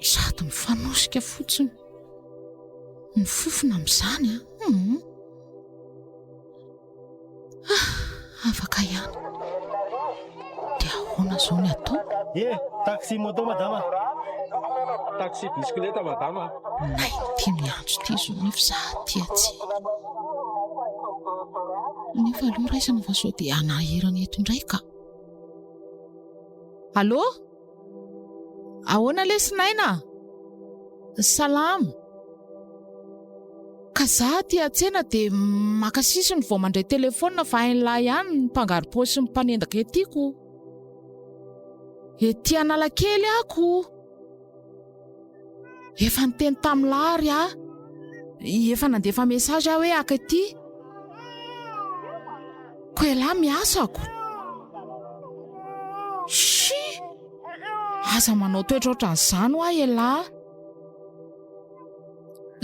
Sady mifanosika fotsiny. Ny fofona amin'izany an. Ah. Hmm. Ah, afaka ihany. Dia ahoana izao ny atao? Ye, eh, taxi moto madama. Taxi bisikileta madama. Nay ity miantso ity izao nefa za aty atsy. Nefa aloha raisina fa sao dia hanahirana eto indray ka. Allô? Ahoana lesy Naina a! Salama. Ka za aty an-tsena dia maka sisiny vao mandray telefaonina fa hain'lah ihany ny mpangarom-paosy sy ny mpanendaka ety ko. Ety Analakely ako. Efa niteny tamin'i Lahary aho. Efa nandefa message aho hoe haka ity. Ko elah miasako. Shi! Aza manao toetra ohatran'izany ho ahy elah.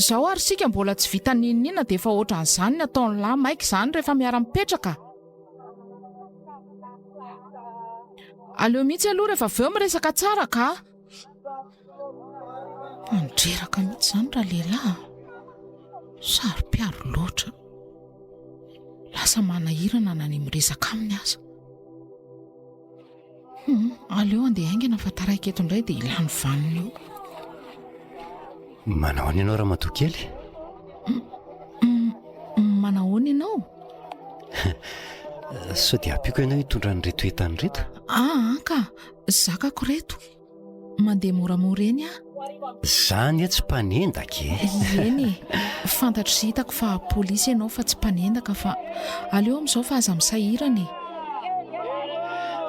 Izao ary isika mbola tsy vita n'inon'inona dia efa ohatran'izany ny ataon'i Lah. Maika izany rehefa miara-mipetraka. Aleo mihitsy aloha rehefa avy eo miresaka tsara kah! Tanidreraka mihitsy izany ralehilahy a! Saro-piaro loatra. Lasa manahirana na ny miresaka aminy aza. Aleo handeha haingana fa taraiky eto indray dia lany vaniny eo. Manao ahoana ianao ramatoa kely? Manao ahoana ianao? Sao dia ampiako ianao hitondra an'ireto entana ireto? Ah, ka. Zakako reto e. Mandeha moramora eny aho. Za anie tsy mpanendaka e. Eny e. Fantatro sy hitako fa polisy ianao fa tsy mpanendaka fa aleo amin'izao fa aza misahirana e.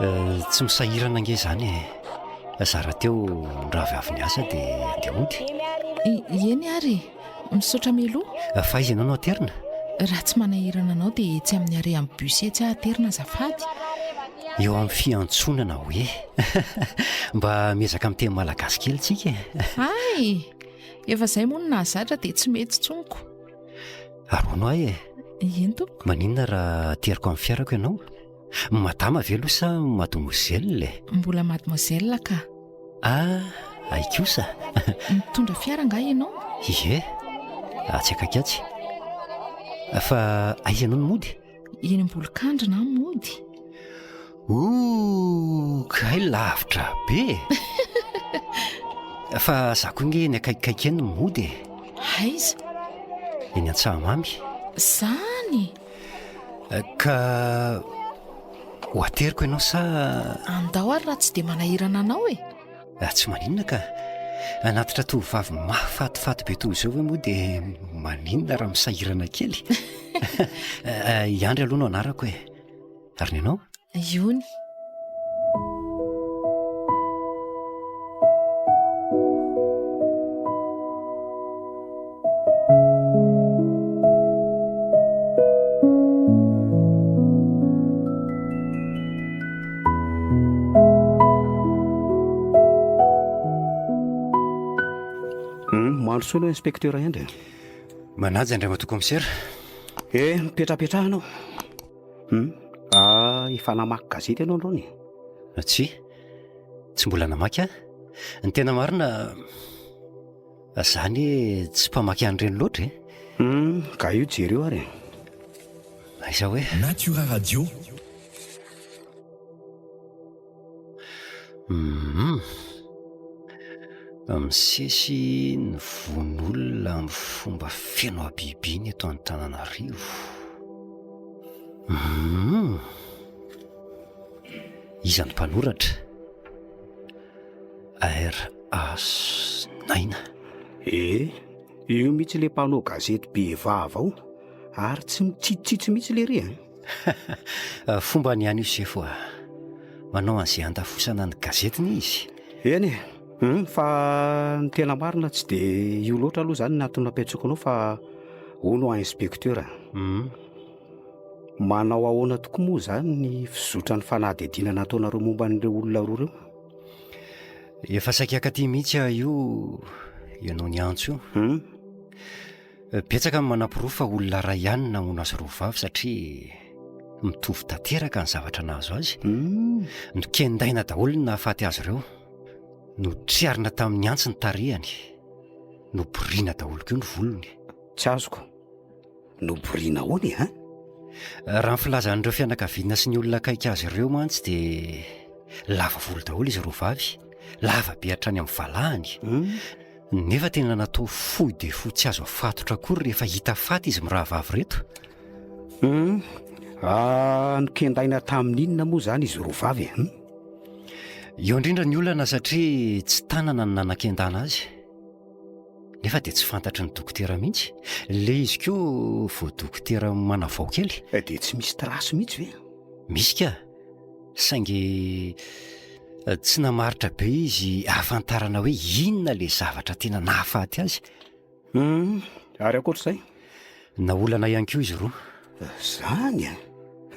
Eh, tsy misahirana ange izany e. Za rahateo ndravy avy niasa dia andeha hody. Eny ary e. Misaotra Melo. Fa aiza ianao no aterina? Raha tsy manahirana anao dia etsy amin'ny arrêt amin'ny bus etsy aho aterina azafady. Eo amin'ny fiantsonana hoe. Mba miezaka miteny malagasy kely tsika e. Hay! Efa izay moa no nahazatra dia tsy mety tsonoko. Aroano ahy e. Eny tompoko. Maninona raha ateriko amin'ny fiarako ianao? Madama ve aloha sa mademoiselle e? Mbola mademoiselle ka. Ah, ay kosa. Mitondra fiara angaha ianao? Ie, atsy akaiky atsy. Fa aiza ianao no mody? Eny Ambolokandrina aho mody. Oh, kay lavitra be. Fa za koa nge ny akaikikaiky eny no mody e. Aiza? Eny Antsahamamy. Zany? Ka ho ateriko ianao sa? Andao ary raha tsy dia manahirana anao e! Ah, tsy maninona ka! Anatitra tovovavy mahafatifaty be toy izao ve moa dia maninona raha misahirana kely? I Andry aloha no anarako e! Ary ny anao? Iony. Mahandrosoa aloha inspecteur Hendry. Manaja Andriamatoa Kaomisera. Eh, mipetrapetraha ianao. Hum, ah efa namaky gazety ianao androany e? Tsia, tsy mbola namaky an. Ny tena marina, za anie tsy mpamaky an'ireny loatra e. Hum, ka io jereo ary e. Aiza hoe. Natura Radio. Hum. Misesy ny vonolona amin'ny fomba feno habibiana eto Antananarivo. Hum. Iza no mpanoratra? RAS Naina. Eh, io mihitsy ilay mpanao gazety be vava ao, ary tsy mitsitsitsitsy mihitsy lery e. Fombany ihany io sefo a. Manao an'izay handafosana ny gazetiny izy. Eny e. Hum, fa ny tena marina tsy dia io loatra aloha izany ny antony nampiantsoako anao fa hono à inspecteur. Hum. Manao ahoana tokoa moa izany ny fizotran'ny fanadihadiana nataonareo momba an'ireo olona roa ireo? Efa saika akaty mihitsy aho io ianao niantso io. Hum. Betsaka ny manaporofo fa olona iray ihany ny namono azy roa vavy satria mitovy tanteraka ny zavatra nahazo azy. Hmm. Nokendaina daholo ny nahafaty azy ireo. Notriarina tamin'ny antsy ny tarehany. Noborina daholo koa ny volony. Tsy azoko. Noborina ahoana e, ha? Raha ny filazan'ireo fianakaviana sy ny olona akaiky azy ireo mantsy dia lava volo daholo izy roa vavy, lava be hatrany amin'ny valahany. Hmm. Nefa tena natao fohy dia fohy tsy azo afatotra akory rehefa hita faty izy mirahavavy reto. Hum, ah, nokendaina tamin'ny inona moa izany izy roa vavy e? Hum? Eo indrindra ny olana satria tsy tanana no nanakendana azy. Nefa dia tsy fantatry ny dokotera mihitsy. Le izy koa vao dokotera manavao kely. Eh, dia tsy misy trace mihitsy ve? Misy ka. Saingy tsy namaritra be izy ahafantarana hoe inona ilay zavatra tena nahafaty azy. Hum, ary ankoatr'izay? Naolana ihany koa izy roa. Zany an!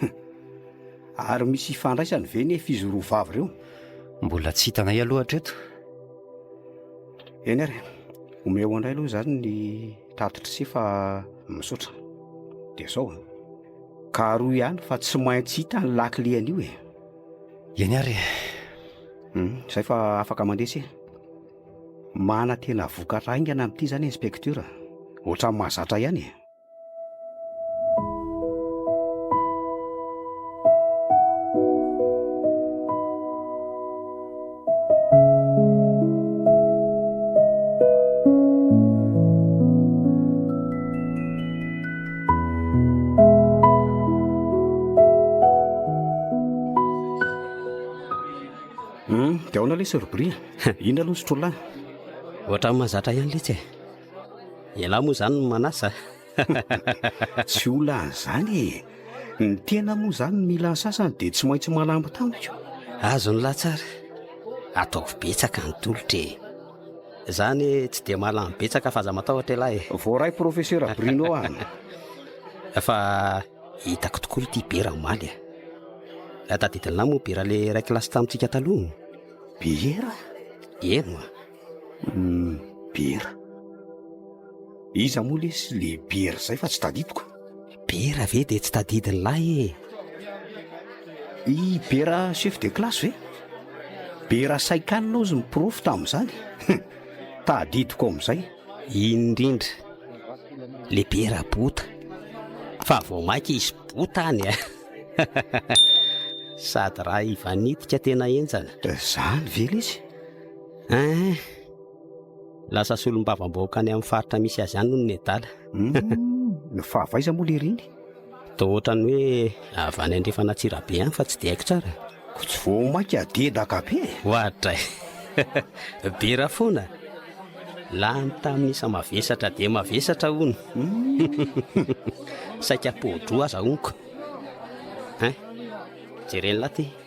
Hum. Ary misy ifandraisany ve nefa izy roa vavy ireo? Mbola tsy hitanay aloha hatreto. Eny ary, omeo anay aloha izany ny tatitry sy fa misaotra. Dia izao an! Ka aroa ihany fa tsy maintsy hita ny lakile an'io e. Eny ary e. Hum, izay fa afaka mandresy e. Manantena vokatra haingana amin'ity izany inspektera. Ohatran'ny mahazatra ihany e. dia aona le sorbria inona aloha ny sotrolay ohatrany mahazatra ihany letsy e ialahy moa izany ny manasa Tsy ho lany zany e! Ny tena moa zany mila ny sasany dia tsy maintsy malambo tamiko. Azony lahy tsara, ataovy betsaka ny tolotra e! Za anie tsy dia mahalany betsaka f'aza matahotra ialahy e! Voaray Profesera Bruno an! Fa hitako tokoa ity biera omaly e! Tadidin'lah moa biera le iray kilasy tamintsika taloha? Biera? Eny oa! Bera. Iza moa lesy le bera zay fa tsy tadidiko. Bera ve dia tsy tadidin'ny lahy e? I bera chef de classe ve? Bera saikanina ozy ny prof tamin'izany. Tadidiko amin'izay. Indrindra. Le bera bota. Fa vao maika izy bota any e. Sady raha ivanitika tena enjana. Zany ve lesy? Hein! Lasa solombavambahoaka any amin'ny faritra misy azy any hono nedala. Hum, fa avy aiza moa lery iny? Toa ohatran'ny hoe avy any andrefana Antsirabe any fa tsy dia haiko tsara. Ko tsy vao maika dedaka be e. Oadray. Bera foana. Lany tamin'ny isa mavesatra dia mavesatra hono. Saika podro aza honko. Hein? Jeren'la ty.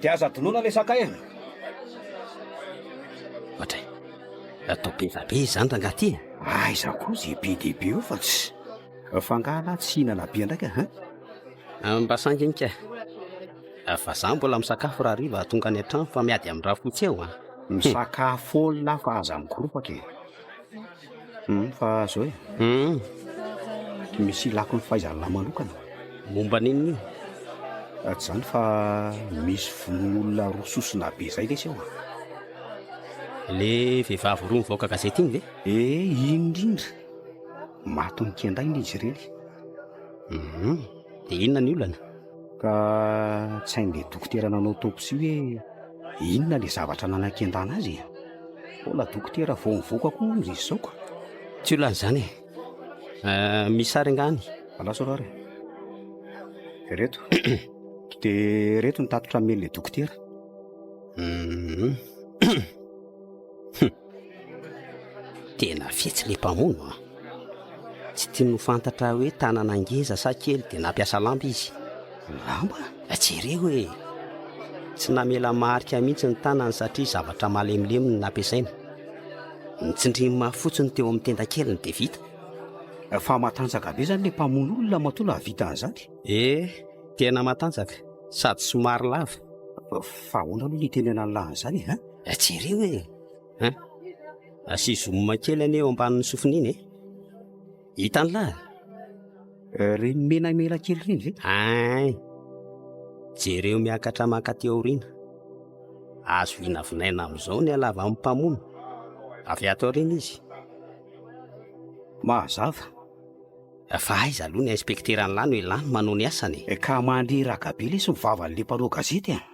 Dia aza adinoina ilay sakay e! Ohatry ny atao beva be izany rangaha ity e! Aiza koa izay be dia be eo fa tsy. Fa angaha lah tsy hihinana be indray ka hein? Mba sanginy ka e! Fa izaho mbola misakafo raha hariva tonga any an-trano fa miady amin'ny rafotsy eo an! Misakafo foana fa aza mikoropaka e! Hum fa azo e. Hum. Misy ilako ny fahaizan'lah manokana. Momba ny inona io? Raha tsy izany fa misy vononolona roa sosona be izay lesy ao an. Le vehivavy roa mivaoka gazety iny ve? Eh, iny indrindra. Matin'ny kendaina izy ireny. Hum. Dia inona ny olana? Ka tsy hain'ilay dokotera nanao autopsie hoe inona ilay zavatra nanakendana azy e. Mbola dokotera vao mivoaka koa hono izy izao ka. Tsy olana izany e. Ah, misy sary angaha any? Alao sao ary. Ireto. Dia ireto ny tatitra nomen'ilay dokotera. Hum. Tena fetsy ilay mpamono an! Tsy tiany ho fantatra hoe tanana ngeza sa kely dia nampiasa lamba izy. Lamba? Jereo e! Tsy namela marika mihitsy ny tanany satria zavatra malemilemy no nampiasaina. Notsindriny mafy fotsiny teo amin'ny tendakeliny dia vita. Fa matanjaka be izany ilay mpamono olona matoa nahavita an'izany? Ee, tena matanjaka sady somary lava. Fa ahoana aloha no itenenany lahy an'izany e? Eh, jereo e! Hein? Asio zoom kely anie eo ambanin'ny sofina iny e! Hitan'lah! Eh, ireny menamena kely ireny ve? Hein! Jereo miakatra mankaty aoriana. Azo vinavinaina amin'izao ny halavan'ny mpamono. Avy ato aoriana izy. Mazava. Eh, fa aiza aloha ny inspekteran'lah no ilàny manao ny asany e? Eh, ka mandreraka be lesy ny vavan'ilay mpanao gazety e!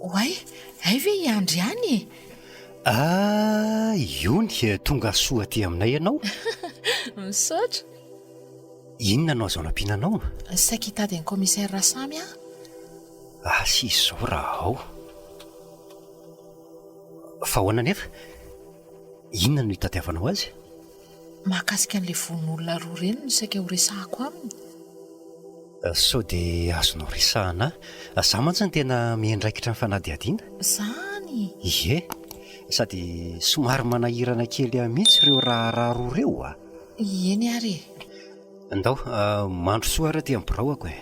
Oay, hay ve hiandry any e? Ah, iony, tonga soa aty aminay ianao. Misaotra. Inona no azo anampiana anao? Saika hitady an'i Commissaire Rasamy aho. Asa izy izao raha ao. Fa ahoana anefa? Inona no hitadiavanao azy? Mahakasika an'ilay vononolona roa ireny no saika horesahako aminy. Sao dia azonao resahina ahy. Za mantsy no tena miandraikitra ny fanadihadiana. Izany? Ie. Sady somary manahirana kely ahy mihitsy ireo raharaha roa ireo a! Eny ary e! Ndao, mandrosoa ary aty amin'ny biraoko e!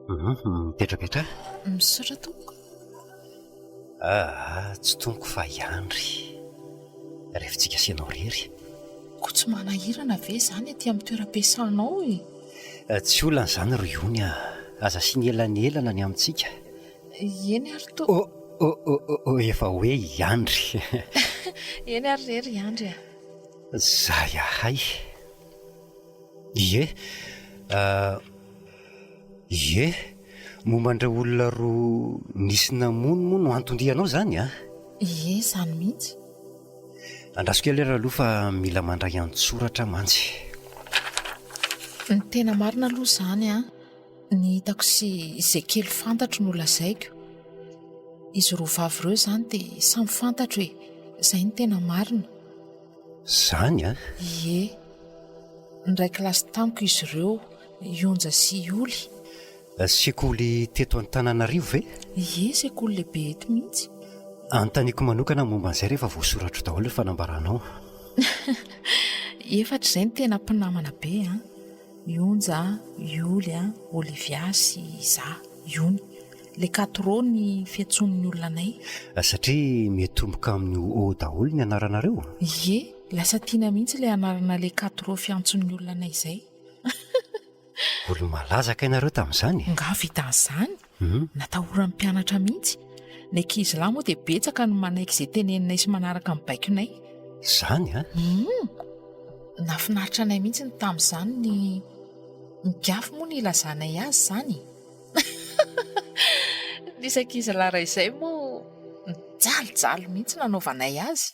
Hum, mipetrapetraha. Misaotra tompoko. Aa tsy toniko fa i Andry refintsika sy ianao rery. Koa tsy manahirana ve izany aty amin'ny toeram-piasanao e? Tsy olana izany ry Ony a! Aza asiana elanelana ny amintsika. Eny ary to. Oh oh oh oh oh efa hoe i Andry. Eny ary re ry Andry a! Zay ahay. Ie. Ie, momba an'ireo olona roa nisy namono moa no anton-dianao izany an? Ie, izany mihitsy. Andraso kely ary aloha fa mila mandray an-tsoratra mantsy. Ny tena marina aloha izany an, ny hitako sy izay kely fantatro no lazaiko. Izy roa vavy ireo izany dia samy fantatro e! Izay no tena marina. Izany an? Ie. Niray kilasy tamiko izy ireo, I Onja sy i Oly. Sekoly teto Antananarivo ve? Ie, sekoly lehibe eto mihitsy. Anontaniako manokana momba an'izay rehefa voasoratro daholo ny fanambaranao. Efatra izay no tena mpinamana be an! I Onja, i Oly, Olivia sy izaho, i Ony. Le Quatro ny fiantsoan'ny olona anay. Satria miatomboka amin'ny O daholo ny anaranareo? Ie, lasa tiana mihitsy ilay anarana le Quatro fiantson'ny olona anay izay. Olo-malaza kay nareo tamin'izany e! Nga vitan'izany? Natahoran'ny mpianatra mihitsy. Ny ankizy lahy moa dia betsaka no manaiky izay teneninay sy manaraka ny baikonay. Izany an! Humm! Nahafinaritra anay mihitsy ny tamin'izany ny Migafy moa no ilazanay azy izany e! Nisy ankizy lahy iray izay moa nijalijaly mihitsy nanaovanay azy.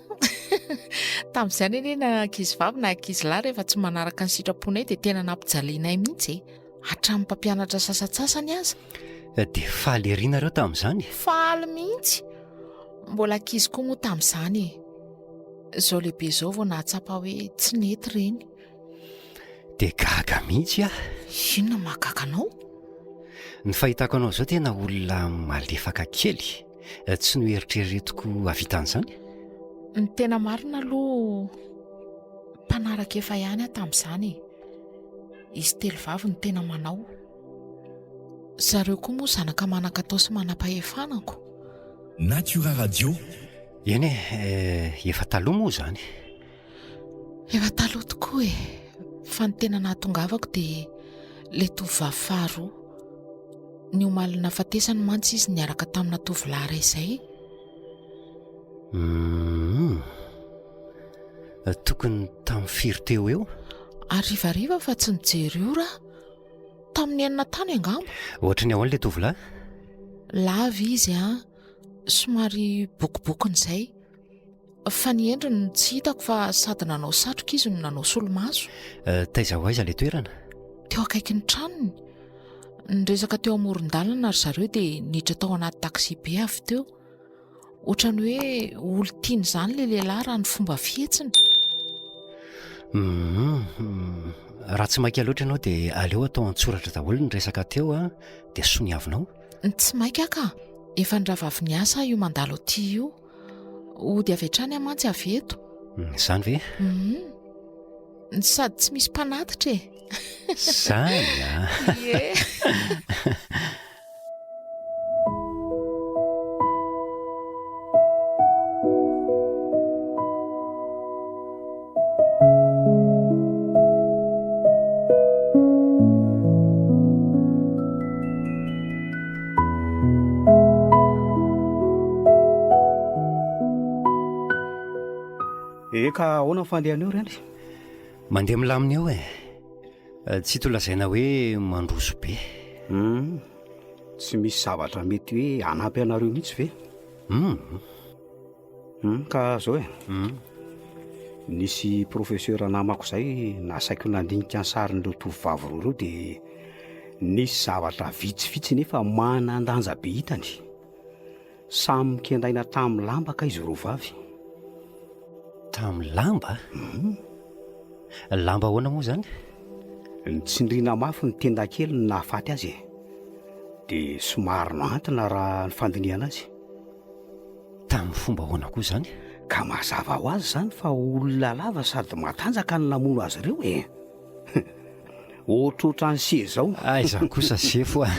Tamin'izany anie na ankizy vavy na ankizy lahy rehefa tsy manaraka ny sitraponay dia tena nampijalianay mihitsy e. Hatramin'ny mpampianatra sasatsasany aza. Eh, dia faly ery nareo tamin'izany? Faly mihitsy. Mbola ankizy koa moa tamin'izany e. Izao lehibe izao vao nahatsapa hoe tsy nety ireny. Dia gaga mihitsy ah. Inona mahagaga anao? Ny fahitako anao izao tena olona malefaka kely. tsy noeritreretiko havita an'izany ny tena marina aloha mpanaraka efa ihany aho tamin'izany e izy telo vavy no tena manao zareo koa moa zanaka manan-katao sy manam-pahefanako natiora radio eny e eh, efa taloha moa izany Efa taloha tokoa e, fa ny tena nahatongavako dia ilay tovovavy faharoa. Ny omaly nafatesany mantsy izy niaraka tamina tovolahy iray izay. Hmm. Tokony tamin'ny firy teo eo? Arivariva fa tsy nijery ora. Tamin'ny enina tany angamba. Ohatra ny ahoana ilay tovolahy? Lava izy an, somary bokobokon'izay. Fa ny endriny no tsy hitako fa sady nanao satroka izy no nanao solomaso. Eh, taiza ho aiza ilay toerana? Teo akaikin'ny tranony. Niresaka teo amoron-dalana ry zareo dia niditra tao anaty taxi-be avy teo. Ohatran'ny hoe olon-tiany izany ilay lehilahy raha ny fomba fihetsiny. Mhm. Raha tsy maika loatra ianao dia aleo atao an-tsoratra daholo ny resaka teo an, dia soniavinao. Tsy maika ka, efa niravavin'ny asa aho io mandalo aty io. Hody avy hatrany aho mantsy avy eto. Hmm, izany ve? Hmm. Sady tsy misy mpanatitra e. Izany a. Ah. Eh, ka ahoana ny fandehan'eo reny mandeha milamina eo e eh, tsy to lazaina hoe mandroso be hmm, tsy misy zavatra mety hoe hanampy anareo mihitsy ve um Humm ka zao e, humm nisy professeur namako zay nasaiko nandinika ny sarin'ireo tovovavy roa ireo de nisy zavatra vitsivitsy nefa manan-danja be hitany. Samy nikendaina tamin'ny lamba kay izy roa vavy. Tamin'ny lamba? Humm. Lamba ahoana moa zany? Nitsindriana mafy ny tenda kely ny nahafaty azy e. De somary nohantina raha ny fandinihana azy. Tamin'ny fomba ahoana koa izany? Ka mazava ho azy izany fa olona lava sady matanjaka no namono azy ireo e! Ohatrohatran'i Hse izao. Aiza kosa Sefo a!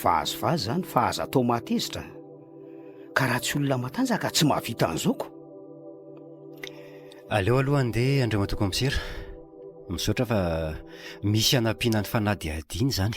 Vazivazy izany fa aza atao mahatezitra. Ka raha tsy olona matanjaka tsy mahavita an'izao ko! Aleo aloha handeha Andriamatoa Kaomisera. Misaotra fa misy hanampiana ny fanadihadiana izany.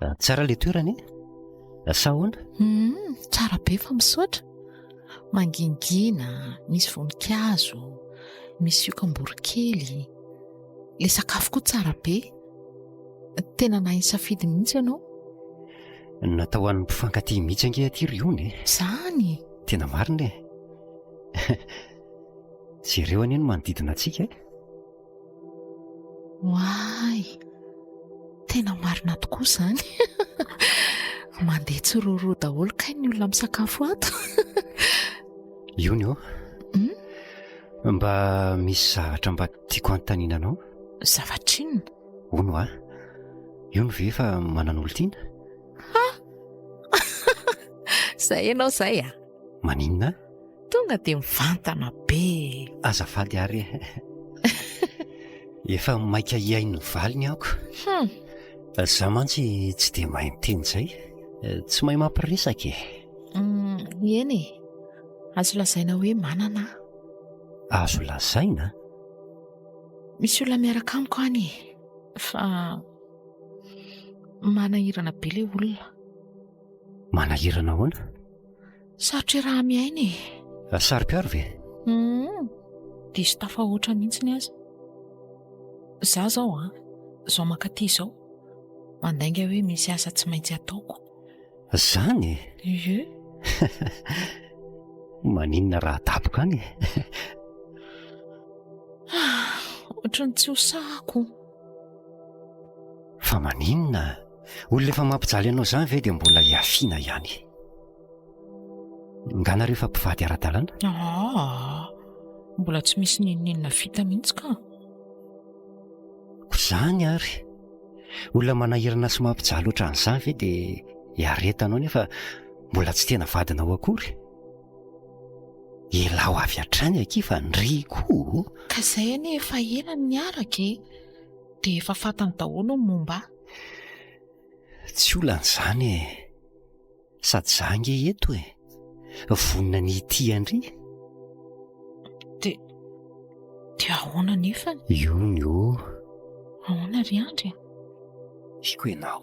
Ah, tsara le toerana e ah, sa ahoana hmm, tsara be fa misaotra mangingina misy voninkazo misy okamborokely le sakafo koa tsara be tena nahay safidy mihitsy ianao natao an'ny mpifankaty mihitsy ange aty ry ony e zany e. tena marina e jereo anie ny manodidina antsika e Oay, tena marina tokoa izany. Mandeha tsiroroa daholo kay ny olona misakafo ato. Iony ô. Hmm? Mba misy zavatra mba tiako hanontaniana anao. Zavatra inona? Ono a. Iony ve efa manana olon-tiana? Ha! Izay ianao izay a. Ah. Maninona? Tonga dia mivantana be. Azafady ary e. Efa maika hihaino ny valiny aho. Hum. Za mantsy tsy dia mahay miteny izay. Tsy mahay mampiresaka e. Hum, eny e. Azo lazaina hoe manana. Azo lazaina? Misy olona miaraka amiko any e. Fa manahirana be ilay olona. Manahirana ahoana? Sarotra raha miaina e. Raha saro-piaro ve? Hum, diso tafahoatra mihitsy ny azy. Za zao an, zao mankaty izao, mandainga hoe misy asa tsy maintsy ataoko. Zany? Ie. Maninona raha adaboka any e. Ohatran'ny tsy ho sahako. Fa maninona? Olona efa mampijaly anao izany ve dia mbola hiafiana ihany? Nga nareo efa mpivady ara-dalana? Ah, mbola tsy misy n'inon'inona vita mihitsy ka. Koa izany ary, olona manahirana sy mampijaly ohatran'izany ve dia iaretanao nefa mbola tsy tena vadinao akory? Ialaho avy hatrany akia fa ndry koa o! Ka izay anie efa ela no niaraka e! Dia efa fantany daholo ny momba ahy. Tsy olana izany e! Sady izaho ange eto e! Vonona ny hitia ndry. Dia, dia ahoana nefany? Io ny o! Ahoana ry Andry a? Tiako ianao.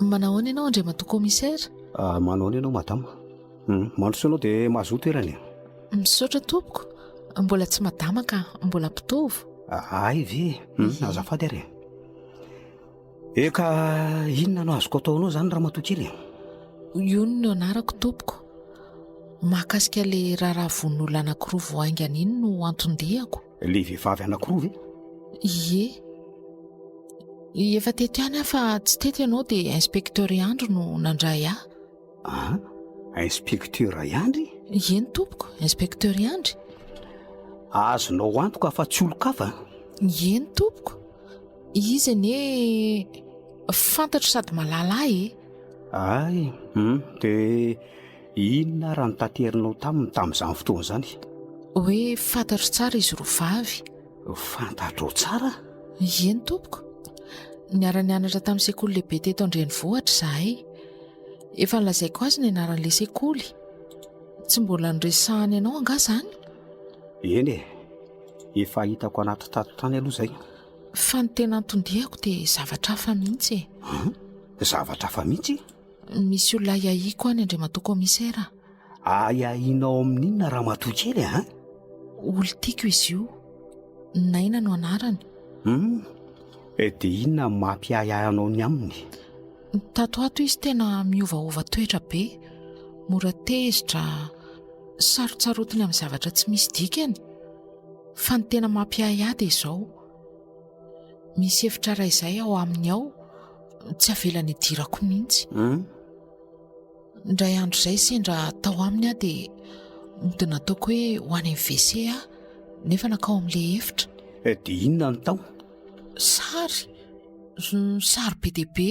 Manahoana ianao Andriamatoa Commissaire? Ah, manahoana ianao Madame? Hum, mandrosoa ianao dia mahazoa toerana e. Misaotra tompoko. Mbola tsy Madama ka, mbola mpitovo. Ah, hay ve? Hum, azafady ary e. Eh ka inona no azoko ataonao izany Ramatoa kely e? Yun no anarako tompoko. Mahakasika ilay raharaha vono olona anankiroa vao haingana iny no anton-diako. Ilay vehivavy anankiroa ve? Ie. Efa teto ihany aho fa tsy teto ianao dia inspecteur Andry no nandray ahy. Ah, inspecteur Andry? Ie ny tompoko, inspecteur Andry. Azonao antoka fa tsy olon-kafa? Ie ny tompoko. Izy anie fantatro sady malala ahy e. Ay, hum, dia Inona ary no taterinao taminy tamin'izany fotoana izany? Hoe fantatro tsara izy roa vavy. Fantatrao tsara? Eny tompoko. Niara-nianatra tamin'ny sekoly lehibe teto an-drenivohitra izahay. Efa nolazaiko azy ny anaran'ilay sekoly. Tsy mbola noresahany anao angaha izany? Eny e, efa hitako anaty tato tany aloha izay. Fa ny tena anton-diako dia zavatra hafa mihitsy e. Zavatra hafa mihitsy? Misy olona ahiahiako any Andriamatoa Kaomisera a! Ahiahinao amin'inona ramatoa kely a? Olon-tiako izy io. Naina no anarany. Hum, eh, dia inona no mampiahiahy anao ny aminy? Tato ato izy tena miovaova toetra be. Mora tezitra, sarotsarotiny amin'ny zavatra tsy misy dikany. Fa ny tena mampiahiahy dia izao. Misy efitra iray izay ao aminy ao tsy avelany idirako mihitsy. Hmm? Indray andro izay sendra tao aminy aho dia mody nataoko hoe ho any amin'ny WC aho nefa nakao amin'ilay efitra. Eh, dia inona no tao? Sary, sary be dia be.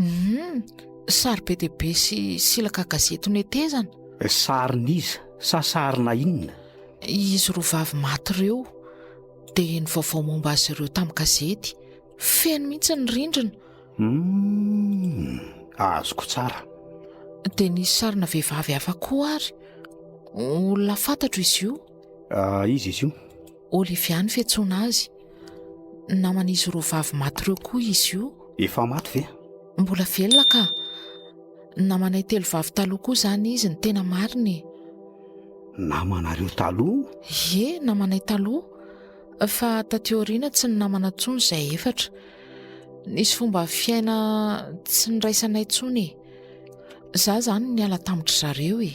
Humm, sary be dia be sy silaka gazety notezana. Sarin'iza? Sa sarina inona? Izy roa vavy maty ireo. Dia ny vaovao momba azy ireo tamin'ny gazety. Feno mihitsy ny rindrina. Humm, azoko tsara. Dia nisy sarina vehivavy hafa koa ary. Olona fantatro izy io? Iza izy io? Olivia no fiantsoana azy. Naman'izy roa vavy maty ireo koa izy io. Efa maty ve? Mbola velona ka. Namanay telo vavy taloha koa izany izy, ny tena marina e. Namanareo taloha? Ie, namanay taloha. Fa taty aoriana tsy ny namana intsony izay efatra. Nisy fomba fiaina tsy niraisanay intsony e. Za izany niala tamin-dry zareo e.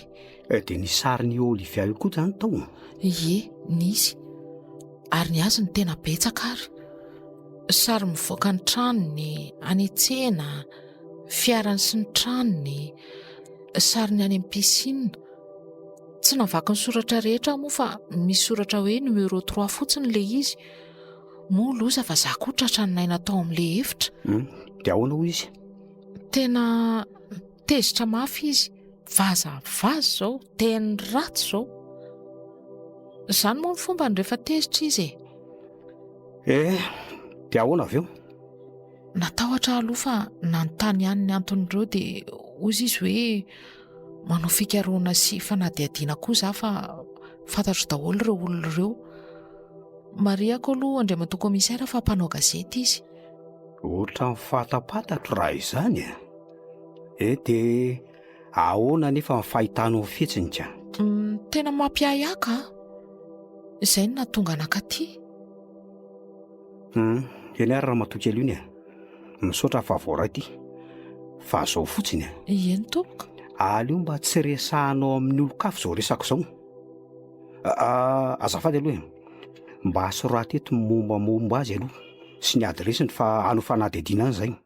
Eh, dia nisy sarin'i Olivia io koa izany tao? Ie, nisy. Ary ny azy no tena betsaka ary. Sary mivoaka ny tranony, any an-tsena, fiarany sy ny tranony, sary ny any amin'ny piscine. Tsy navaky ny soratra rehetra aho moa fa misy soratra hoe numéro trois fotsiny ilay izy. Moa loza fa za koa tratra ny naina tao amin'ilay efitra. Hmm, dia ahoana hoy izy? Tena tezitra mafy izy vaza vaza zao teny ratsy zao zany moa ny fomba ny rehefa tezitra izy e eh de ahoana avy eo natahotra aloha fa nanontany ihany ny anton'ireo de ozy izy hoe manao fikaroana sy fanadihadiana koa za fa fantatro daholo ireo olona ireo mariako aloha andriamatoa komisaira fa mpanao gazety izy ohatran'ny fahatapatatro raha izany e Eh dia ahoana anefa ny fahitanao ho fihetsiny ka? Tena mampiahiaka an! Izay no nahatonga anaka aty. Hum, eny ary ramatoa kely ony e! Misaotra fa voaray ity. Fa izao fotsiny e! Eny tompoko. Aleo mba tsy resahanao amin'ny olon-kafa izao resaka izao. Ah, azafady aloha e! Mba soraty eto ny mombamomba azy aloha sy ny adiresiny fa hanao fanadihadiana any izay.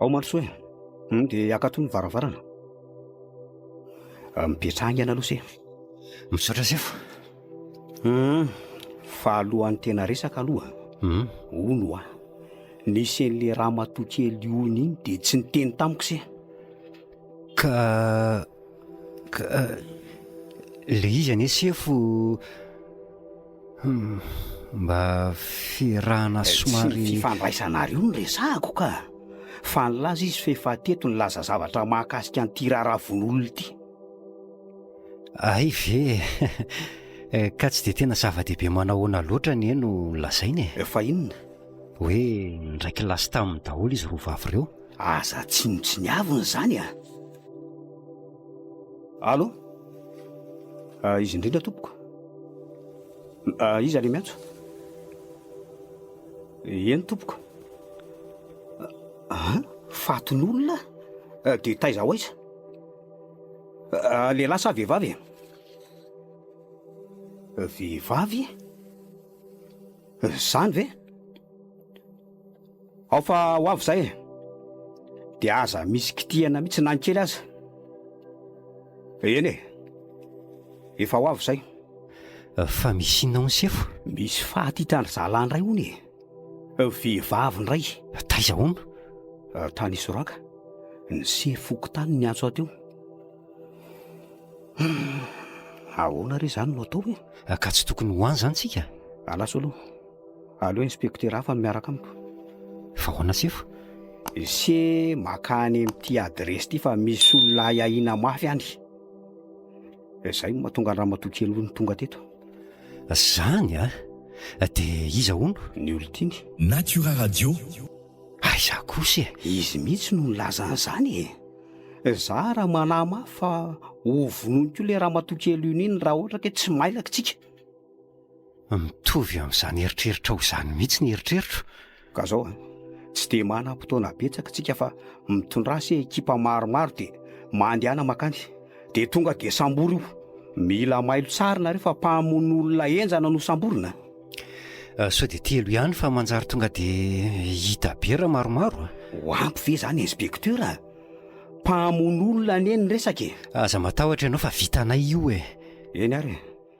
Ao Manosoa e, dia hakato ny varavarana. Mipetraha haingana aloha se. Misaotra sefo. Hum, fa alohan'ny tena resaka aloha. Hum. Ono hoa. Nisy an'ilay ramatoa kely ono iny dia tsy niteny tamiko se. Ka ka le izy anie sefo mba fiarahana somary. Tsy ny fifandraisanareo no resahako ka! Fa nilaza izy fa efa teto nilaza zavatra mahakasika an'ity raharaha vono olona ity. Hay ve e! Ka tsy dia tena zava-dehibe manahoana loatra anie no lazaina e! Fa inona? Hoe ndraiky lasa taminy daholo izy roa vavy ireo. Aza tsinontsiniavina izany a! Allo? Ah, izy indrindra tompoko. Ah, iza le miantso? Eny tompoko. Ah, fatin'olona? Ah, de taiza ho aiza? Ah, lehilahy sa vehivavy? Vehivavy? Zany ve? Ao fa ho avy izay e. Dia aza misy kitihana mihitsy na ny kely aza. Eny e. Efa ho avy izay. Fa misy inona hono sefo? Misy faty hitan-dry zalahy indray hono e. Vehivavy indray. Taiza hono? Tany Isoraka. Ny sery fokontany niantso ahy teo. Ahoana re izany no atao e? Ka tsy tokony ho any izany tsika? Alaso aloha. Aleo inspektera hafa no miaraka amiko. Fa ahoana sefo? Ese maka any amin'ity adiresy ity fa misy olona ahy ahiana mafy any. Izay no mahatonga an'i ramatoa kely hono tonga teto. Izany an! Dia iza hono? Ny olon-tiany. Natura Radio. Aiza kosa e! Izy mihitsy no nilaza an'izany e! Za ary manahy mafy fa hovonoiny koa ilay ramatoa kely iny iny raha ohatra ka tsy mailaka isika. Mitovy amin'izany eritreritrao izany mihitsy ny eritreritro. Ka zao an, tsy dia manam potoana betsaka tsika fa mitondrasy e ekipa maromaro dia mandehana makany dia tonga dia sambory io. Mila mailo tsara nareo fa mpamono olona henjana no samborina. Sao dia telo ihany fa manjary tonga dia hita be raha maromaro a. Ho ampy ve izany inspecteur a? Mpamono olona anie ny resaka e. Aza matahotra ianao fa vitanay io e. Eny ary e,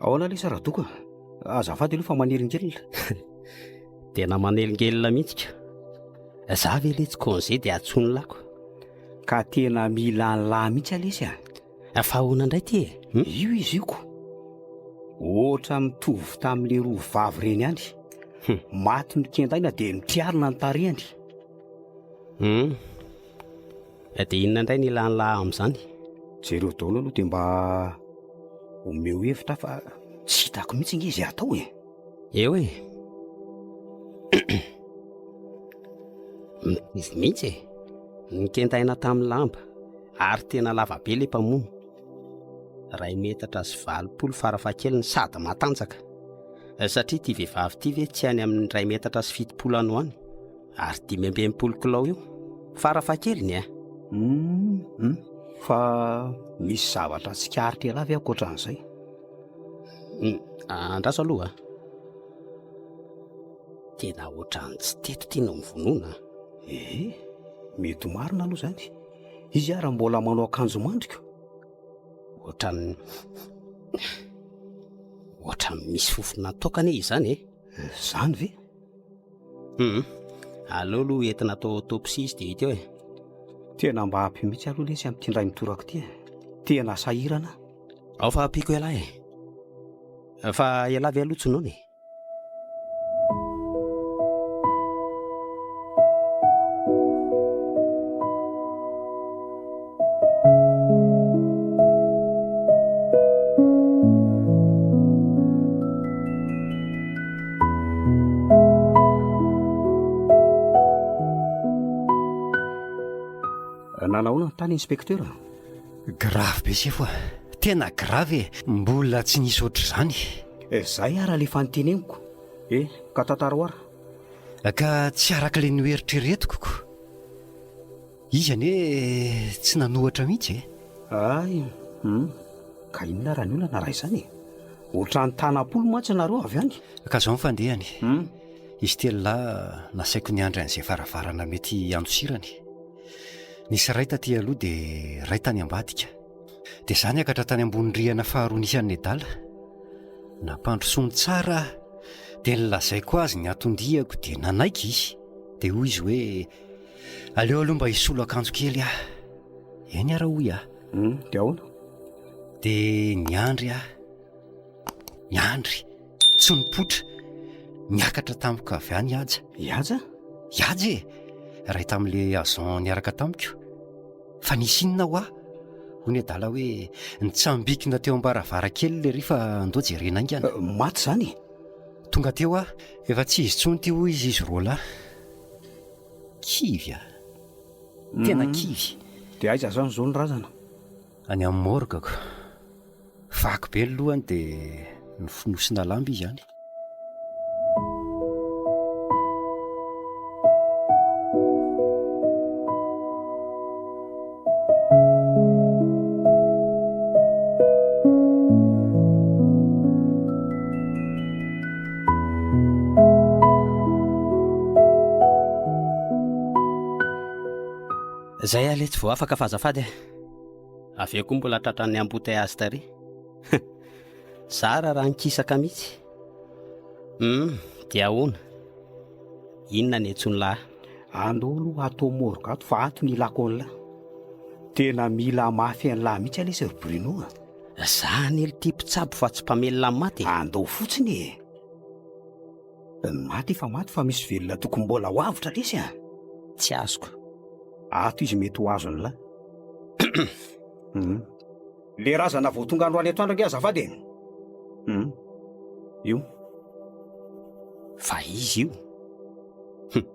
Ahoana lesy Radoko a? Azafady aloha fa manelingelina. Tena manelingelina mihitsy ka. Za ve le tsy congé dia atsonin'ny lako. Ka tena mila an'i lahy mihitsy lesy a. Fa ahoana indray ty e? Hmm? Io izy io ko. Ohatra mitovy tamin'le roa vavy reny ihany. Hmm. Maty mikendaina dia mitriarina ny tarehany. Hmm. Dia inona indray no ilan'lah amin'izany? Jereo daholo aloha dia mba omeo hevitra aho fa tsy hitako mihitsy nge izay hatao e! Eo e! Mitovy mihitsy e! Nikentaina tamin'ny lamba ary tena lava be ilay mpamono, iray metatra sy valopolo farafahakeliny sady matanjaka, satria ity vehivavy ity ve tsy any amin'ny iray metatra sy fitopolo any ho any? Ary dimy amby enimpolo kilao eo. Farafahakeliny eh. Hum, hum. Fa misy zavatra tsikaritra ialahy ve ankoatran'izay? Hum, andraso aloha ah. Tena ohatran'ny tsy teto ity no mivonona. Eh, mety ho marina aloha izany. Izy ara mbola manao akanjo mandriko. Ohatran'ny ohatran'ny misy fofona toaka anie izany eh. Izany ve? Humm, aleo aloha entina atao autopsie izy dia hita eo e. Tena mba ampy mihitsy aloha lesy amin'ity indray mitoraka ity e. Tena sahirana aho. Ao fa ampiako ialahy e. Fa ialahy ve aloha tsy noana e? Nanahoana ny tany inspektera? Grave be sefo ah. Tena grave e. Mbola tsy nisy ohatr'izany. Eh, zay ara le fanteneniko. Eh, ka tantaro ara. Ka tsy araka le noeritreretiko ko. Izy anie tsy nanohatra mihitsy e! Hay! Hum! Ka inona ary ny olana raha izany e! Otrany tanam-polo mantsy nareo avy any! Ka izao ny fandehany. Hum! Izy telo lahy nasaiko niandry an'izay varavarana mety hiandosirany. Nisy iray taty aloha dia iray tany ambadika. Dia izaho niakatra tany ambony rihana faharoa nisy an'i Nedala. Nampandrosoany tsara aho dia nilazaiko azy ny anton-diako dia nanaiky izy. Dia hoy izy hoe. Aleo aloha mba hisolo akanjo kely aho. Eny ary hoy aho. Hum, dia ahoana? Dia niandry aho. Niandry. Tsy nipoitra. Niakatra tamiko avy any i Haja. I Haja? I Haja e! Iray tamin'ilay agent niaraka tamiko. Fa nisy inona ho ahy? Hoy ny adala hoe nitsambikina teo am-baravarankely ilay rifa andao jerena haingana. Maty izany e! Tonga teo aho. Efa tsy izy intsony ity hoy izy, izy roa lahy. Kivy a! Tena kivy. Dia aiza izany izao ny razana? Any amin'ny morgue ko. Vaky be ny lohany dia nofonosina lamba izy any. Zay aleha tsy voafaka fa azafady e. Avy eo koa mbola tratran'ny embouteillage tary. Zara raha nikisaka mihitsy. Hum, dia ahoana? Inona ny antsoin'lah? Andolo ato morgue ato fa ato ny ilako anla. Tena mila mafy anla mihitsy anie sir Bruno a. Za anie lty mpitsabo fa tsy mpamelona ny maty e. Andao fotsiny e. Ny maty efa maty fa misy velona tokony mbola ho avotra lesy a. Tsy azoko. Ato izy mety ho azo anla. Le razana vao tonga androany etoandro ange azafady e! Hum. Io. Fa izy io. Hum.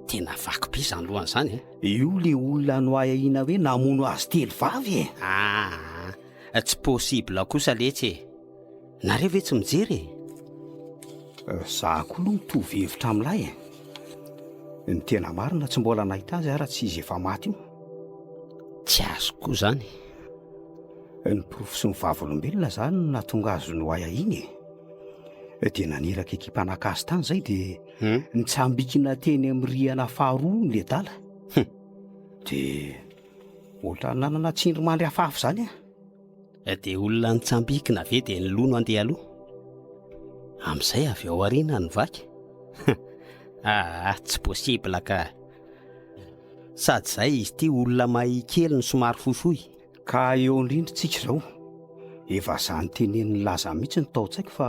Tena vaky be izany lohany izany e! Io le olona noahiahiana hoe namono azy telo vavy e! Ah, tsy possible kosa letsy e! Nareo ve tsy mijery e? Eh, za koa aloha mitovy hevitra amin'ilay e. Ny tena marina tsy mbola nahita azy ara tsy izy efa maty io. Tsy azo koa zany. Eh, ny porofo sy ny vavolombelona zany no natonga azy no aia iny e. Eh, dia naniraka ekipa naka azy tany zay dia hmm? nitsambikina teny amin'ny rihana faharoa ny ledala. Hmm. Dia ohatran'ny nanana tsindry mandry afafy zany e. Dia olona nitsambikina ve dia nilou no andeha aloha? Amin'izay avy ao aoriana no vaky? Aa tsy possible ka! Sady izay izy ity olona mahia kely no somary fohifohy. Ka eo indrindra isika izao. Dia vazaha notenenin'i Laza mihitsy no tao an-tsaiko fa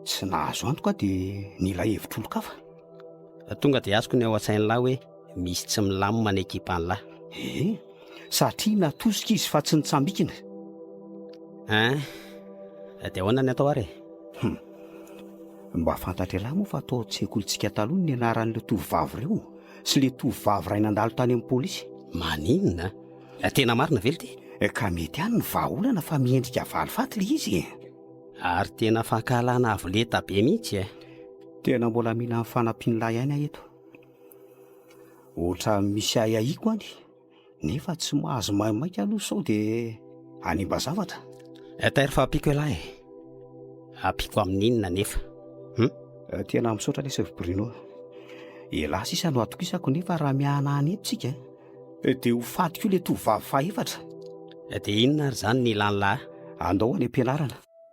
tsy nahazo antoka aho dia nila hevitr'olon-kafa. Tonga dia azoko ny ao an-tsain'lah hoe. Misy tsy milamina ny ekipan'lah. Eh, satria natosika izy fa tsy nitsambikina. Hein, eh, dia ahoana ny atao ary e? Hum. Mba fantatr'elah moa fa tao an-tsekolintsika taloha ny anaran'ireo tovovavy ireo sy ilay tovovavy iray nandalo tany amin'ny polisy. Maninona? Eh, tena marina ve ity? Eh, ka mety ihany ny vahaolana fa miendrika valifaty ilay izy e. Ary tena fankahalana avo lenta be mihitsy e. Tena mbola mila ny fanampian'lah ihany aho eto. Ohatra misy ahiahiko any nefa tsy mahazo maimaika aloha sao dia hanimba zavatra. Inter fa ampiako ialahy e. Ampiako amin'inona anefa? Hum? Eh, tena misaotra anie Chef Bruno. Ialahy sisa no atokisako nefa raha mihana any eto tsika eh, eh, dia ho faty koa ilay tovovavy fahaefatra. Eh, dia inona ary izany ny ilan'lah? Andao any am-pianarana.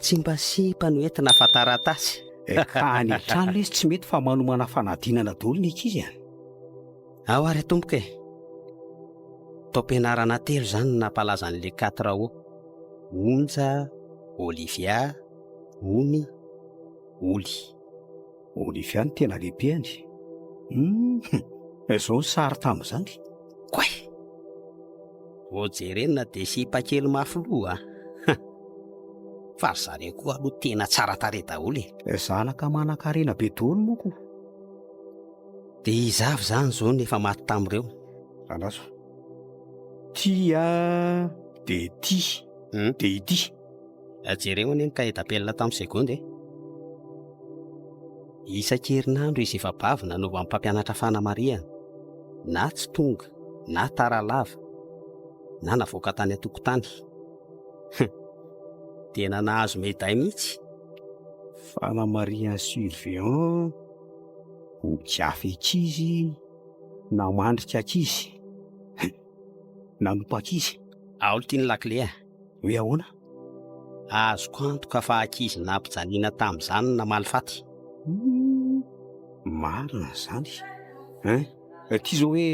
Tsy mba sipany oe tna fa taratasy. Eh ka any an-trano lesy tsy mety fa manomana fanadinana daholo ny ankizy an! Ao ary tompoko e! Taom-pianarana telo izany no nampalaza an'i le quatre ao, Onja, Olivia, Ony, Oly. Olivia no tena lebehany. Hum, izao ny sary tamin'izany. Koay! Vao jerenina dia sipa kely mafy loha. Ah. Fa ry zareo koa aloha tena tsara tarehy daholo e. Eh. Zanaka manan-karena be daholo moko. Dia iza avy izany izao no efa maty tamin'ireo? Andraso. Tia dia tia. Hmm? Dia ity. Jereo anie ny cahier d'appel tamin'ny seconde e! Isan-kerinandro izy efa bavy nanovan'ny mpampianatra fanamarihana, na tsy tonga, na tara lava, na navoaka tany an-tokotany. Hum! Tena nahazo meday mihitsy! Fanamarihan'ny surveillant, boky hafa ankizy, namandrika ankizy, hum! nanompa ankizy. Aolo ty ny lakile a! Hoe ahoana? Azoko antoka fa ankizy nampijaliana tamin'izany ny namaly faty. Humm, marina izany. Hein? Ity izao hoe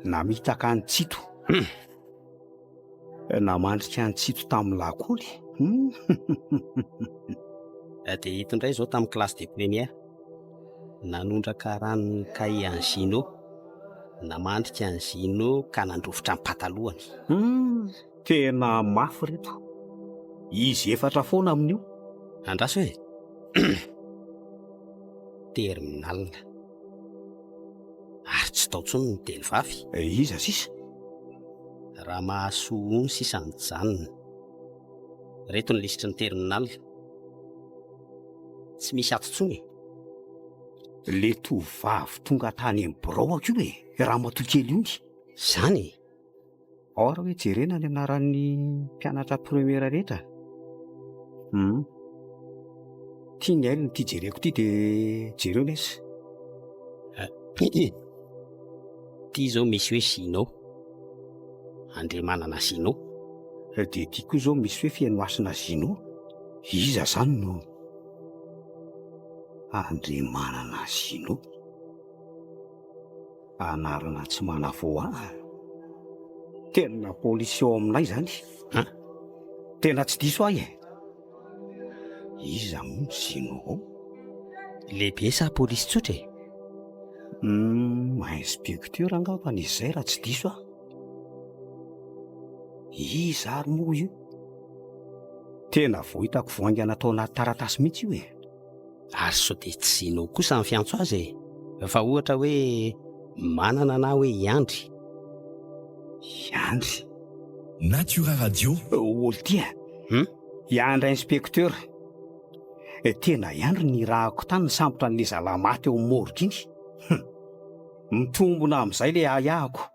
namitaka an'i Tsito. Humm. Namandrika an'i Tsito tamin'ny lakôly. Humm. Eh, dia ito indray izao tamin'ny classe de première. Nanondraka ranon'ny kahie an'i Gino. Namandrika an'i Gino ka nandrofotra ny patalohany. Humm. Tena mafy reto. Izy efatra foana amin'io. Andraso e! Terminal. Ary tsy tao intsony ny teny vavy. Eh, iza sisa? Ramahasoa Ony sisa mijanona. Reto ny lisitry ny terminal. Tsy misy ato intsony e! Le tovovavy tonga tany amin'ny biraoako io e, ramatoa kely ony. Izany e! Or hoe jerena ny anaran'ny mpianatra première rehetra hum ity ny ahy no ity jereko ity dia jereo nes ity izao misy hoe sino andriamanana sino dia ity koa izao misy hoe fenohasina zino iza zany no andriamanana sino Anarana tsy manavoara. Tena polisy ao aminay zany. Ha? Tena tsy diso ahy e. Iza moa ny sinoa ao? Lehibe sa polisy tsotra e? Hmm, inspecteur angamba ny izay raha tsy diso aho. Iza ary moa io? Tena vao hitako vao haingana tao anaty taratasy mihitsy io e. Ary sao dia tsy zinao kosa ny fiantso azy e? Fa ohatra hoe Manana na hoe i Andry. I Andry. Natura Radio. Oltia, hum, i Andry inspecteur. Tena i Andry nirahako tany nisambotra an'ilay zalahy maty ao amin'ny morgue iny. Hum. Mitombona amin'izay ilay ahiahiko.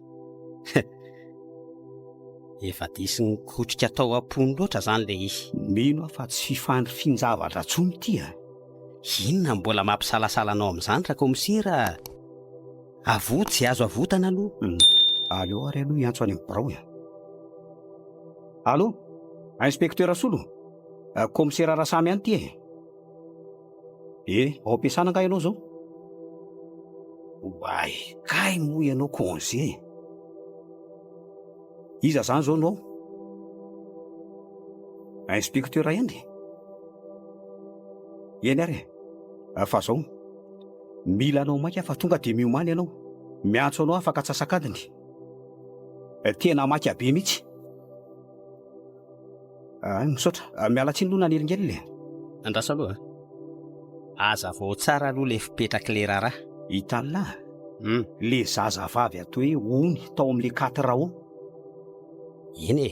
Efa diso nikotrika tao am-pony loatra zany le izy. Mino aho fa tsy fifandrifian-javatra tsony ity a! Inona no mbola mampisalasala anao amin'izany Rakomisera a! Avoa tsy azo avotana aloha. Aleo ary aloha hiantso any amin'ny birao e! Allo! Inspektera Solo? Kaomisera Rasamy ihany ity e! Eh, ao am-piasana angaha ianao izao? Oay, kay moa ianao congé e! Iza izany izao no ao? Inspecteur Henry? Eny ary e! Fa izao, mila anao maika fa tonga dia miomana ianao. Miantso anao afaka antsasak'adiny. Tena maika be mihitsy. Ah, misaotra. Ah, miala tsiny aloha nanelingelina e. Andraso aloha. Azavao tsara aloha le fipetrak'le raharaha. I Talla, Hum. le zazavavy atao hoe Ony tao amin'le Quatre Rao. Eny e.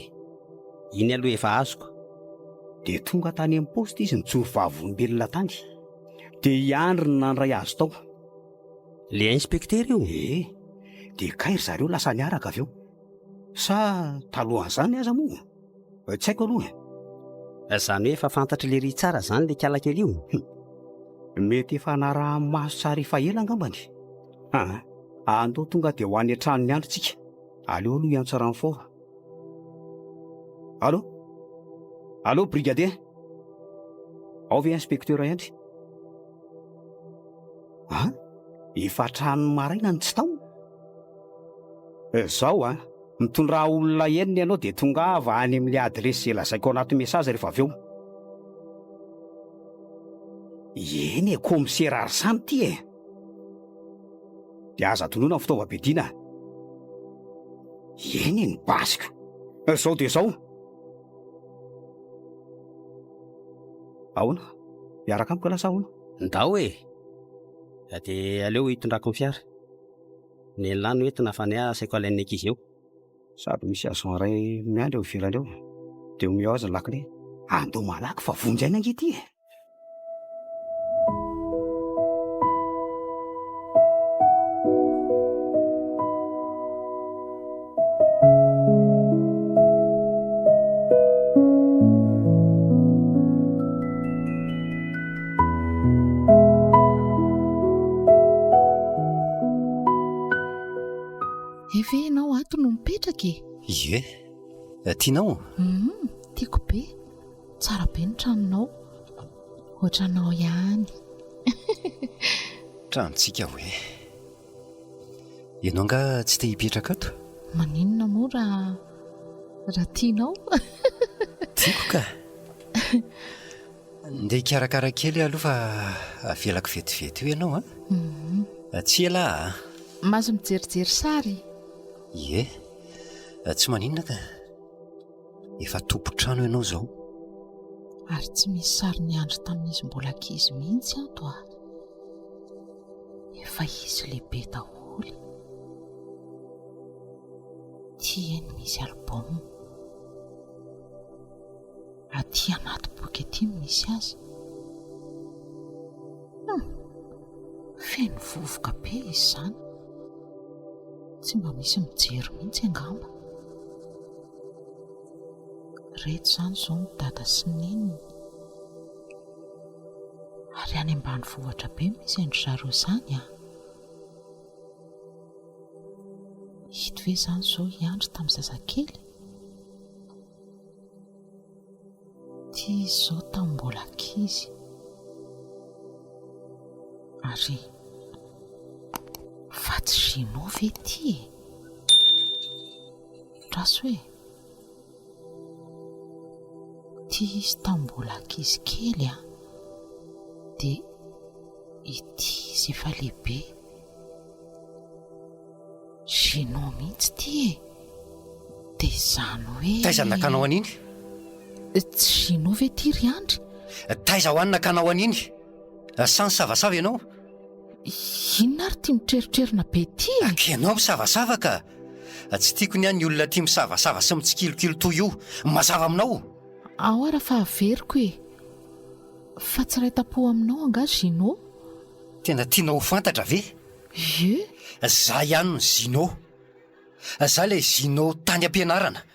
Iny aloha efa azoko. Dia tonga tany amin'ny poste izy nijoro vavolombelona tany. Dia i Andry no nandray azy tao. Le inspektera io? Ee. Dia kay ry zareo lasa niaraka avy eo. Sa talohan'izany aza moa? Tsy haiko aloha e. Izany hoe efa fantatr'i Léry tsara izany ilay kiala kely io? Hum. Mety efa naraha-maso tsara efa ela angambany. Aa, andao tonga dia ho any an-trano ny andro tsika. Aleo aloha hiantso renfort. Allô? Allô brigadier? Ao ve inspecteur Hendry? Aa, efa hatramin'ny maraina no tsy tao? Zao an, mitondrà olona enina ianao dia tongava any amin'ilay adiresy izay lazaiko ao anaty message rehefa avy eo. Eny e, kaomisera ary samy ity e! Dia aza tonona ny fitaovam-piadiana a! Eny e, ny basiko! Zao dia zao! Ahoana? Miaraka amiko lasa ahoana? Ndao e! Dia aleo hitondrako ny fiara. Nenlah no entina fa neha asaiko alain'ny ankizy eo. Sady misy agent iray miandry eo ivelany eo dia omeo azy ny lakile. Andao malaky fa vonjy aina ange ity e! Efe ianao ato no mipetraka e Ie eh, Tianao hmm, Tiako be Tsara be ny tranonao Ohatranao ihany Tranontsika hoe Ianao angaha tsy te hipetraka ato? Maninona moa raha raha tianao? Tiako ka! Ndeha hikarakara kely aho aloha fa avelako vetivety eo ianao an! Tsy ela a! Mahazo mijerijery sary? Ie, tsy maninona ka! Efa tompon-trano ianao izao. Ary tsy misy sarin'i Andry tamin'izy mbola ankizy mihitsy ato a! efa izy lehibe daholo ty eny misy album aty anaty boky aty no misy azy hum feno vovoka be izy izany tsy mba misy mijery mihitsy angamba reto izany izao ny dada sy ny neniny Ary any ambanivohitra be misy an-dry zareo izany an! Ito ve izany izao i Andry tamin'ny zazakely? Ity izy izao tamin'ny mbola ankizy. Ary vady Gino ve ity e? Traso e! Ity izy tamin'ny mbola ankizy kely an, dia ity izy efa lehibe. Gênant mihitsy ity e! Dia izany hoe. Taiza nakanao an'iny? Tsy Gênant ve ity ry Andry? Taiza ho any nakanao an'iny? Lasa nisavasava ianao? Inona ary ity mitrerotrerona be ity e? Ka ianao misavasava ka! Tsy tiako ny ahy ny olona tia misavasava sy mitsikilokilo toy io. Mazava aminao? Ao ary fa averiko e! Fa tsy iray tam-po aminao angaha Gino? Tena tianao ho fantatra ve? Ie? Izaho ihany ny Gino. Izaho ilay Gino tany am-pianarana.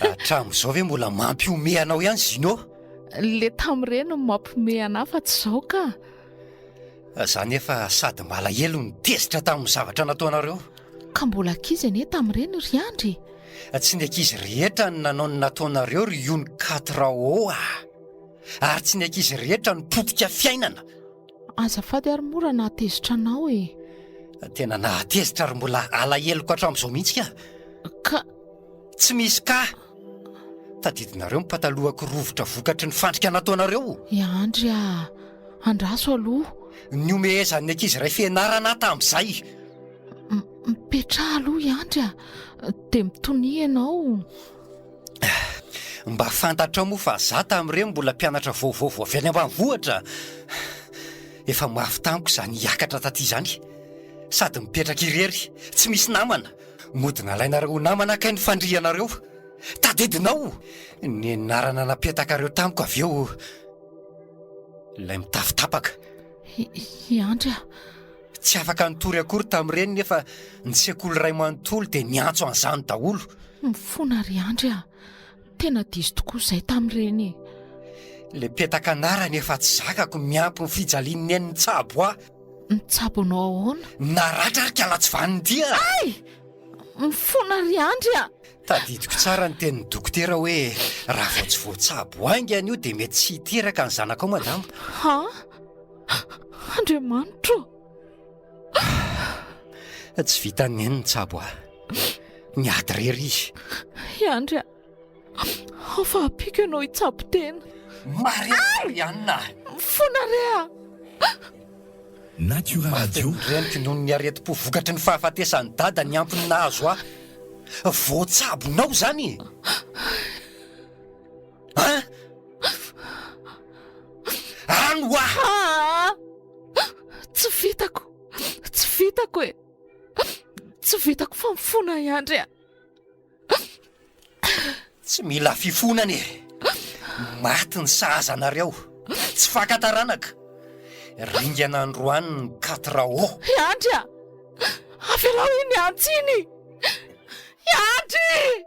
Hatramin'izao ve mbola mampihomehy anao ihany Zino? Le tamin'ireny no mampihomehy anah fa tsy izao ka. Za nefa sady malahelo ny tezitra tamin'ny zavatra nataonareo. Ka mbola ankizy anie tamin'ireny ry Andry e! Tsy ny ankizy rehetra no nanao ny nataonareo ry Yon Quatre Rao a! Ary tsy ny ankizy rehetra no potika fiainana. Azafady ary mora nahatezitra anao e! Tena nahatezitra ary mbola alaheloko hatramin'izao mihitsy ka. Ka. Tsy misy kah! Tadidinareo ny patalohako rovitra vokatry ny fandrika nataonareo! I Andry a! Andraso aloha! Nihomehezan'ny ankizy iray fianarana aho tamin'izay. Mipetraha aloha i Andry a! Dia mitonia ianao! Mba fantatrao moa fa za tamin'ireny mbola mpianatra vaovao vao avy any ambanivohitra. Efa mafy tamiko izany hiakatra taty izany. Sady mipetraka irery, tsy misy namana. Mody nalainareo ho namana kay ny fandrianareo. Tadidinao ny anarana napetakareo tamiko avy eo ilay mitafy tapaka. I Andry a! Tsy afaka nitory akory tamin'ireny nefa ny sekoly iray manontolo dia niantso an'izany daholo. Mifona ry Andry a! Tena diso tokoa izay tamin'ireny e! Le petaka anarany efa tsy zakako miampy ny fijalian'ny nen'ny tsabo ahy. Mitsabo anao ahoana? Naratra ary kalatsy vanin-dia! Ay! Mifona ry Andry a! Tadidiko tsara ny tenin'ny dokotera hoe raha vao tsy voatsabo haingana io dia mety tsy hiteraka ny zanakao madama. Ha? Andriamanitro! Tsy vitan'ny ainy ny tsabo ahy. Miady irery izy. I Andry a! Afa-ampiko ianao hitsabo tena. Marianna! Mifona re a! Natura Radio. Reniko noho ny aretim-po vokatry ny fahafatesan'i Dada ny antony nahazo ahy. Voatsabonao izany e! An? An hoa! Tsy vitako. Tsy vitako e. Tsy vitako fa mifona i Andry a. Tsy mila fifona anie. Maty ny sahaza anareo. Tsy faka taranaka. Ringana androany ny quatre O. I Andry a! Avelao iny antsy iny! I Andry!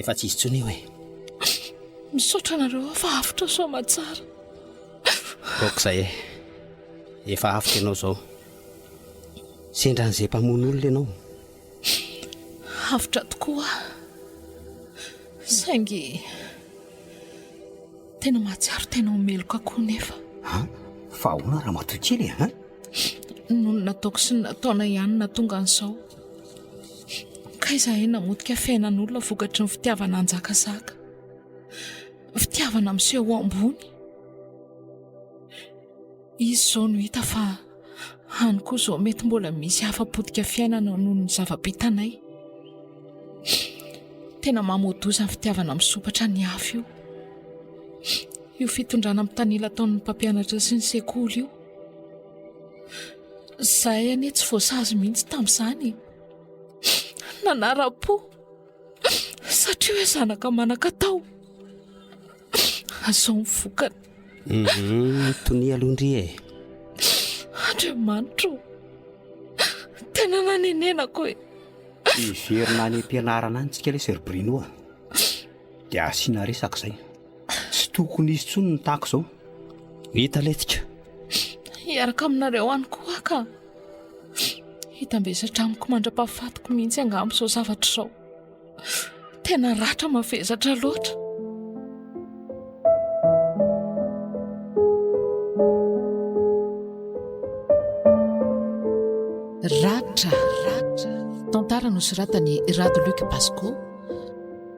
Efa tsy izy tsony io e. Misaotra anareo fa avotra soa matsara. Kok zay e. Efa avotra ianao zao. Sendra an'izay mpamono olona ianao. Avotra tokoa. Saingy tena mahatsiaro tena ho meloka koa nefa. Ha? Fa ahoana raha matoy kely e? Noho ny nataoko sy ny nataonay ihany na tonga an'izao. Ka izahay namotika fiainan'olona vokatry ny fitiavana hanjakazaka, fitiavana miseho ho ambony. Izy izao no hita fa any koa izao mety mbola misy hafa potika fiainana noho ny zava-bitanay. Tena mamoa-doza ny fitiavana misompatra ny hafa io. Io fitondrana mitanila ataon'ny mpampianatra sy ny sekoly io. Izahay anie tsy voasazy mihitsy tamin'izany e! Nanara-po satria hoe zanaka manan-katao. Izao ny vokany. Mhm, tonia aloha ndry e! Andriamanitra o! Tena nanenenako e! Hiverina any am-pianarana any isika lesy ry Bruno a! Dia asiana resaka izay. Tsy tokony hisy intsony ny tahaka izao. Hita lentika. Hiaraka aminareo any koa ka. Hitambesatra amiko mandra-pahafatiko mihitsy angamba izao zavatra izao. Tena ratra mavesatra loatra. Ratra, ratra. Tantara nosoratan'i Rado Luc Basco.